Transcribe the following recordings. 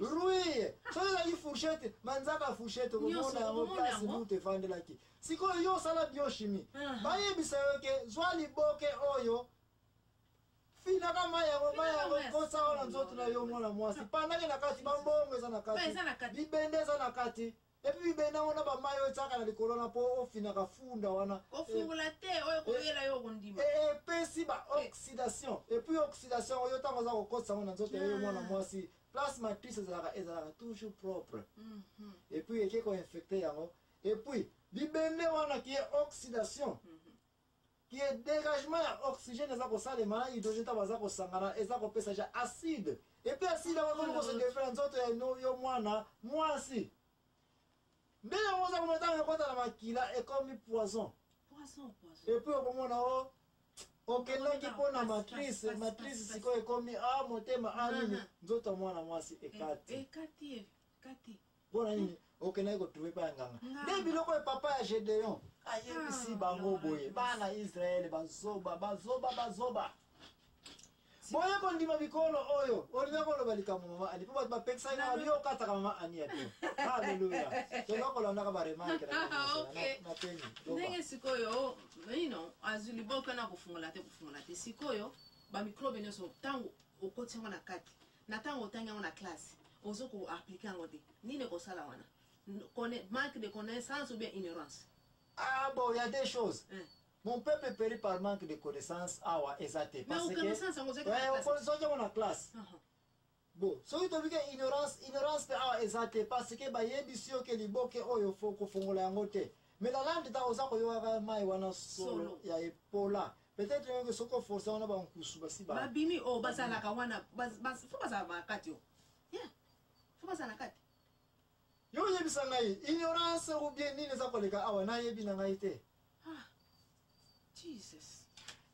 ruye soki ezali fourchette manzaka fourchette okomona yango place mute efandelaki sikoyo yo osala biochimie ah. bayebisa yo ke zwa liboke oyo finaka mai yango mai yango kosa oyo na nzoto na yo mwana mwasi pandaki na kati bambongo eza na kati libende eza na kati Epi bibende yango na bamai oyo etiaka na likolo na mpo ofinaka funda wana. Kofungola te oyo ekoyela yo okondima. E, epesi ba oxydation. Epuis oxydation oyo ntango oza kokotisa yango na nzoto ya yo mwana mwasi place matrice ezalaka ezalaka toujours propre mm -hmm. et puis eke koinfecte yango et puis bibende wana ki ye oxydation mm -hmm. que dégagement ya oxygène eza kosalema na hydrogène ntango baza kosangana eza kopesa ja acide epuis acide yango ekomi kosedefle na nzoto ya yo mwana mwasi nde yango oza komona ntango ekota na makila ekomi poison epuis okomona o oh, okendaki mpo na matrice matrice sikoyo ekomi a ah, motema a ah, nini nzoto ya mwana mwasi ekati eh, eh, mpo na nini okendaki kotrouve epai ya nganga nde biloko ya papa ya gedeon ayebisi ah, bango boye bana israele bazoba bazoba bazoba boye kondima mikolo oyo olinga koloba likambo mama ani mpo bato bapekisaki na babi okataka mama ani ya bio aleluya toza kolandaka baremarke na peni ndenge sikoyo ino azwi liboko na kofungola te kofungola te sikoyo bamikrobe nyonso ntango okoti yango na kati Na tango otangi yango na classe, ozo ko appliquer yango te. Nini ekosala wana? Manque de connaissance ou bien ignorance? Ah bon, il y a des choses. Hein. Mon peuple périt par manque de connaissance awa ah eza te. Parce que. Mais connaissance yango ozaki na classe. Ouais, ozaki na classe. Uh -huh. Bon, soki tobi ke ignorance, ignorance pe awa ah, eza te parce que bayebisi yo ke liboke oyo fo kofongola yango te. Mais la lande ta oza koyokaka mai wana solo ya epola. Peut être yo soki o forcer wana ba nkusu basi ba. Ba bimi o oh, bazalaka wana bas bas faut bazala ba kati o. Yeah. Faut bazala kati. Yo yebisa ngai ignorance ou bien nini eza koleka awa na yebi na ngai te. Ah. Jesus.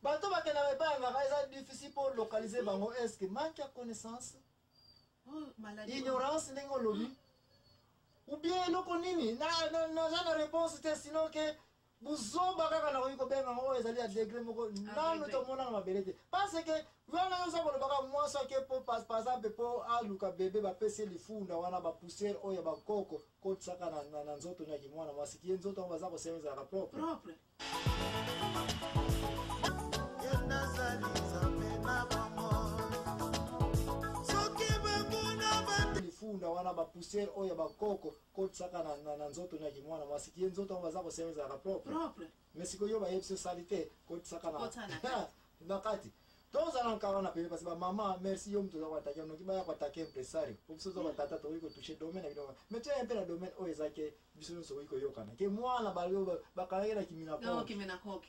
bato bakendaka epai ya ngaka eza difficile mpo localize bango eske manque ya connaissance oh, ignorance ndenge olobi ou bien eloko nini naza na réponse te sinon ke buzoba kaka nakoki kobenga yango oyo ezali ya degre moko nanu tomonaka mabele te parce que wana yo oza kolobaka mwasi ake po par exemple po aluka bebe bapesi lifunda wana bapoussière oyo ya bakoko kotisaka na, na, na nzoto nyaki mwana mwasi kiye nzoto yango baza kosema ezalaka propre propre lifunda wana bapoussière oyo ya bakoko kotisaka na, na, na nzoto na kimwana mwasi kiye nzoto yango baza kosenga ezalaka propre propre mais sikoyo yo bayebisi yo sali te kotisaka na Kotisa na kati. na kati tozala nka wana pene parce bamama merci yo moto oza koatake noki baya koatake impresario po biso toza batata tokoki kotouche domaine na bino mais toya mpe na domaine oyo eza ke biso nyonso okoki koyokana ke mwana bakanaki na kimina donc mena koki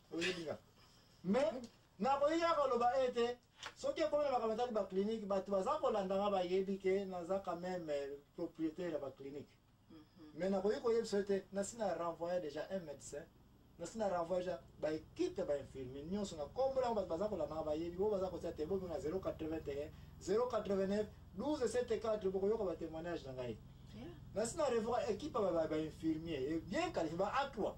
oyebi nga mais nakoki kaka koloba ete soki ekomi na makambo etali baclinique bato baza kolanda nga bayebi ke naza quand même euh, propriétaire ya baclinique mhm. mais nakoki koyebisa yo te nasi na renvoya déjà un médecin nasi na renvoya déjà baekipe ya bainfirmier nyonso na kombo yango bato baza kolanda nga bayebi bo baza kotia te bomi na 081 089 12 74 bokoyoka batémoignage na ngai nasi na revoka ekipe ya bainfirmier bien qualifié ba a 3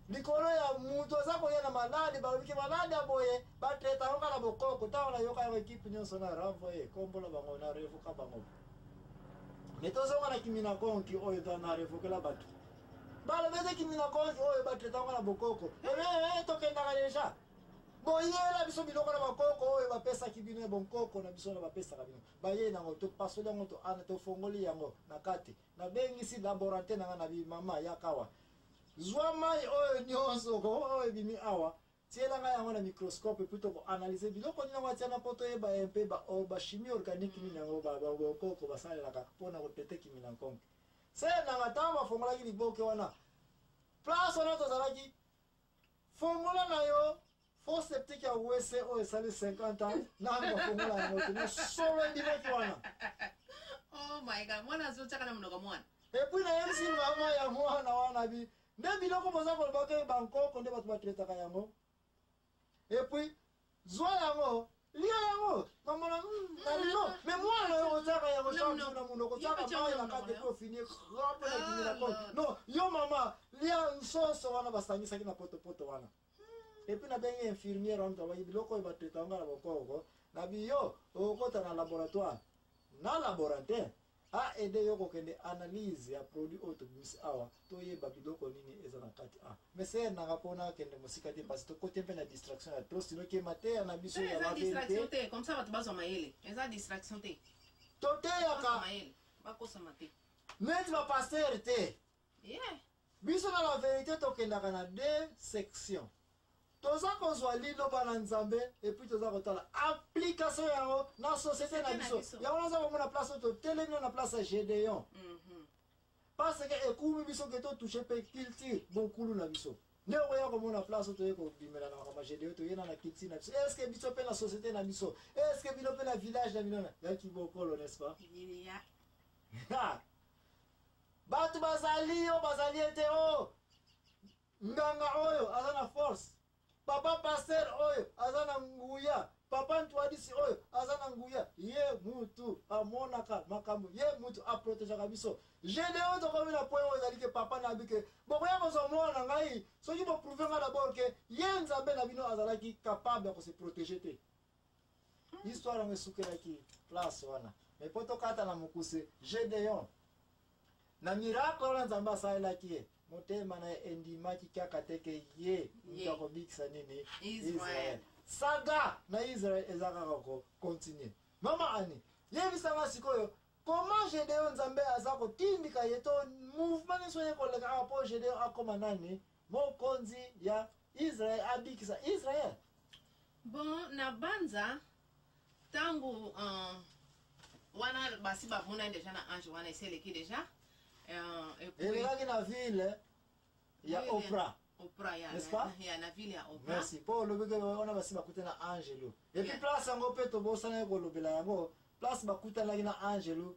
likolo ya mutu aza koya na malade balobi ke malade ya boye batraita yango kaka bokoko ntango nayoka yango ekipe nyonso na renvoye kombola bango na revoka bango me tozonga na kimina konki oyo to na revokela bato balobi ete kimina konki oyo batraita yango na bokoko ee tokendaka deja boyela biso biloko na bakoko oyo bapesaki bino ya bonkoko na biso na bapesaka bino baye nango topasoli yango tofongoli yango na kati nabengisi laborante na ngai na bimama yakawa zwa mai oyo nyonso oyo ebimi awa tiela ngai yango na microscope epui tokoanalyse biloko nini yango atia na mpo toyeba ye mpe bachimie organique nini yango bakoko basalelaka mpo na kotete kimi na nkonke se nanga ntango bafongolaki liboke wana place wana tozalaki fongola na yo fo septique ya wese oyo esali 50 ans nanu bafongola yango te na solo ebimaki wana oh my god mwana azotyaka na monoko mwana epuis nayebisi mama ya mwana wana bi nde biloko boza koloba ke bankoko nde bato batretaka yango epuis Zwa yango, lia yango, mamona, mm, na lino, me mwana na yo otiaka yango chaque jour na munoko, otiaka mayi na kati epi ofini grape na dimi na kolo. Ah. Non, yo mama, lia nsoso wana basangisaki na potopoto wana. Epi nabengi infirmière wana tobaki biloko oyo batretanga na bokoko, na biyo okota na laboratoire, na laboratoire, A aider yo ko kende analyse ya produit oyo to bimisi awa to yeba biloko nini eza na kati a. Mais c'est nanga pona kende musika te parce que to kote pe na distraction ya trop sinon ke mateya na biso ya ba distraction te comme ça batu bazo mayele. Eza distraction te. To te yaka. Mayele. Ba kosa mate. Meti ba pasteur te. Yeah. Biso na la verite tokendaka na deux sections. Toza kozwa liloba na Nzambe et puis toza kotala application yango na société na biso. Yango naza komona place to telemi na place ya Gedeon. Mhm. Parce que ekumi biso ke to toucher pe culture bokulu na biso. nde okoya komona place oyo toye kobimela na makambo gedeyo toyena na culture na biso estce biso mpe na société na biso estce bino mpe na village na bino ya kibokolo n'est ce pas bato bazali yo bazali ete o oh, nganga oyo aza na force papa paster oyo aza na nguya papa ntwadisi oyo aza na nguya ye mutu amonaka makambo ye mutu aprotegeaka biso gedeo tokomi na poye oyo ezali ke papa na bike bokoya kozwa mwana na ngai soki boprouve ngai dabord ke ye nzambe na bino azalaki capable ya kose protege te histoire yango esukelaki place wana me mpo tokata na mokuse gedeon na miracle wana nzambe asalelaki ye motema na ye endimaki kaka te ke ye moto akobikisa nini israel saga na israel eza kaka kokontinue mama ani yebisanga sikoyo comment gedeon nzambe aza kotindika ye to mouvement nyonso ye koleka awa mpo gedeon akoma nani Mokonzi ya Israël abikisa Israël. Bon, na banza tango uh, wana basi bamonani deja na ange wana eseleki deja euh, elekaki na ville ya opra opra ya n'est-ce pas ya na ville ya opra merci po olobi ke wana basi bakute na angelo et puis place yango pe tobosanaki kolobela yango place bakutanaki na angelo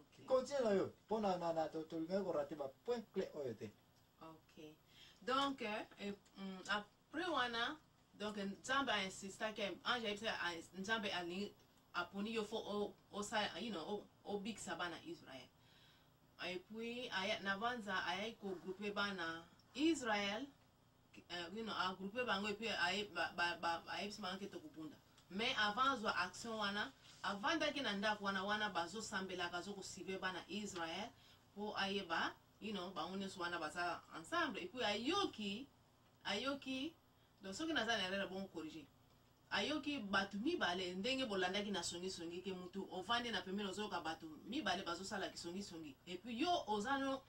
okay. continue na yo mpo na, na, na tolingaki korate ba point clé oyo te ok donc euh, eh, mm, après wana donc nzambe ainsistaki ange ayebisaki nzambe alingi aponi yo fo osala you know obikisa bana israel epuis nabanza ayaki kogroupe bana israel euh, you know, agroupe bango epuis ayebisi bango ke tokobunda mais avant azwa action wana avandaki na ndako wana wana bazosambelaka azokosive bana israel mpo ayeba you know, bango nyonso wana baza ensemble epuis ayoki ayoki donc soki naza na erreur bongo corrige ayoki bato mibale ndenge bolandaki na songisongi ke motu ovandi na pembeni ozoyoka bato mibale bazosala kisongisongi epuis yo oza no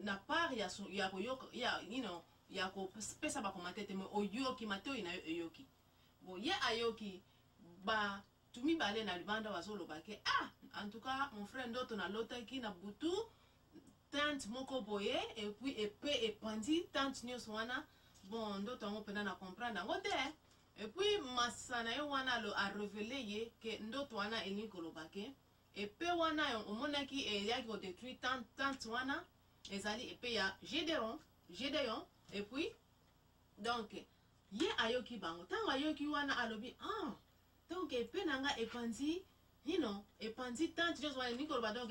na part ya su- ya koyoka ya you know ya kopesa bakomate te me oyoki matoi na yo eyoki bo ye ayoki bato mibale na libanda bazoloba ke ah en tout cas mon frère ndoto nalotaki na butu tante moko boye epuis epe epanzi tante nyonso wana bon ndoto yango mpena na comprendre yango te epuis masa na ye wana alo arevele ye ke ndoto wana elingi koloba ke Epee wana omonaki eyaki ko detruire tente, tente wana ezali epee ya Gedeon, Gedeon et puis donc ye ayoki bango ntango ayoki wana alobi ah donc epee na nga epanzi nino epanzi tente nyonso wana elingi koloba donc